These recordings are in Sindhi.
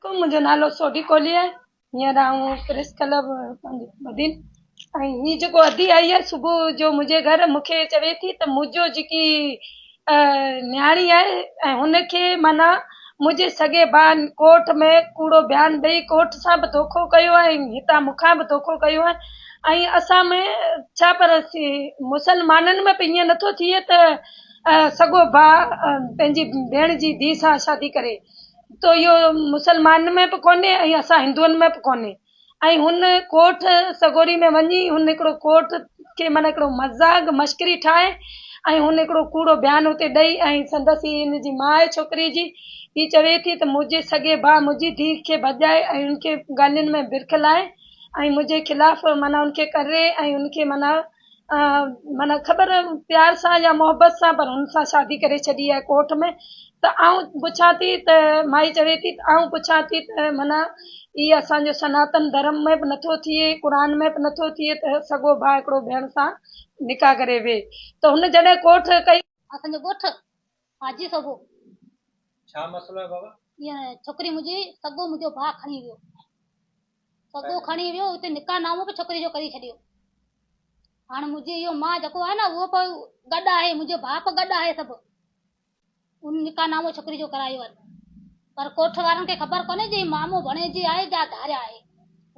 عليڪم منهنجو نالو سوڍي ڪولهي آهي هينئر آئون پريس ڪلب بدين ۽ هي جيڪو ادي آئي آهي صبح جو منهنجي گهر مونکي چوي ٿي ته منهنجو جيڪي نياڻي آهي ۽ هن کي معنيٰ منهنجي سڳي ڀاء ڪورٽ ۾ ڪوڙو بيان ڏئي ڪورٽ سان به دوکو ڪيو آهي ۽ هتان مون کان به دوکو ڪيو آهي ۽ اسان ۾ ڇا پر مسلمانن ۾ به ائين نٿو ٿئي ته سڳو ڀاء پنهنجي ڀيڻ جي ڌيء سان شادي ڪري تو اهو مسلمانن ۾ به ڪونهي ۽ اسان هندوئن ۾ به ڪونهي ۽ هن ڪوٺ سڳوري ۾ وڃي هن هڪڙو ڪوٺ کي معنيٰ هڪڙو مذاق مشڪري ٺاهي ۽ هن هڪڙو ڪوڙو بيان اتي ڏئي ۽ سندس هي هن جي ماء آهي ڇوڪري جي هي چوي ٿي ته منهنجي سڳي ڀاء منهنجي ڌيء کي ڀڄائي ۽ هن کي گالين ۾ برک لائي ۽ منهنجي خلاف معنيٰ هن کي ڪري ۽ هن کي معنيٰ معنيٰ خبر پيار سان يا محبت سان پر هن سان شادي ڪري ڇڏي آهي ڪورٽ ۾ ته آئون پڇان ٿي ته مائي چوي ٿي ته آئون پڇان ٿي ته معنيٰ هي اسانجو سناتن ڌرم ۾ به نٿو ٿئي قرآن ۾ به نٿو ٿئي ته سڳو ڀاء هڪڙو ڀيڻ سان نڪاح ڪري ويهي ته هن جڏهن ڪوٺ ڪئي اسانجو ڳوٺ حاجي سوڀو، ڇا مسئلو آهي بابا؟ ائين ڇوڪري منهنجي سگو منهنجو ڀاء کڻي ويو. سگو کڻي ويو اتي نڪاح نامو به ڇوڪري جو ڪري ڇڏيو. هاڻ منهنجي اهو ماء جيڪو آهي نه اهو به گڏ آهي منهنجو ڀاء به گڏ آهي سڀ ان نڪاح نامو ڇوڪري جو ڪرايو آهي پر ڪوٺ وارن کي خبر ڪونهي جي مامو ڀڻي جي آهي جا ڌاريا آهي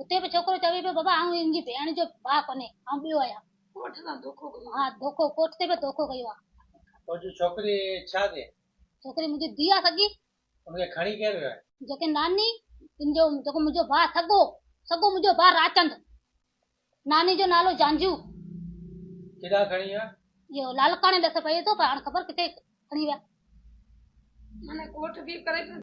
اتي به ڇوڪرو چوي پيو بابا آئون ان جي ڀيڻ جو ڀاء ڪونهي آئون ٻيو آهيان. ڪوٺ سان ڌوڪو ڪيو. ها ڌوڪو ڪوٺ تي به ڌوڪو ڪيو آ. توجي ڇوڪري ڇا ٿئي. ڇوڪري منهنجي ڌي آ سڳي. ان کي کڻي ڪير ويو آهي. جيڪي ناني ان جو جيڪو منهنجو ڀاء سڳو سڳو منهنجو ڀاء راچند ناني جو نالو جانجو. ڪيڏانهن کڻي ويا. اهو لالڪاڻي ڏس پئي ٿو پر هاڻ خبر ڪٿي کڻي ويا. معنيٰ ڪوٺ ڪير ڪري ڇڏيو.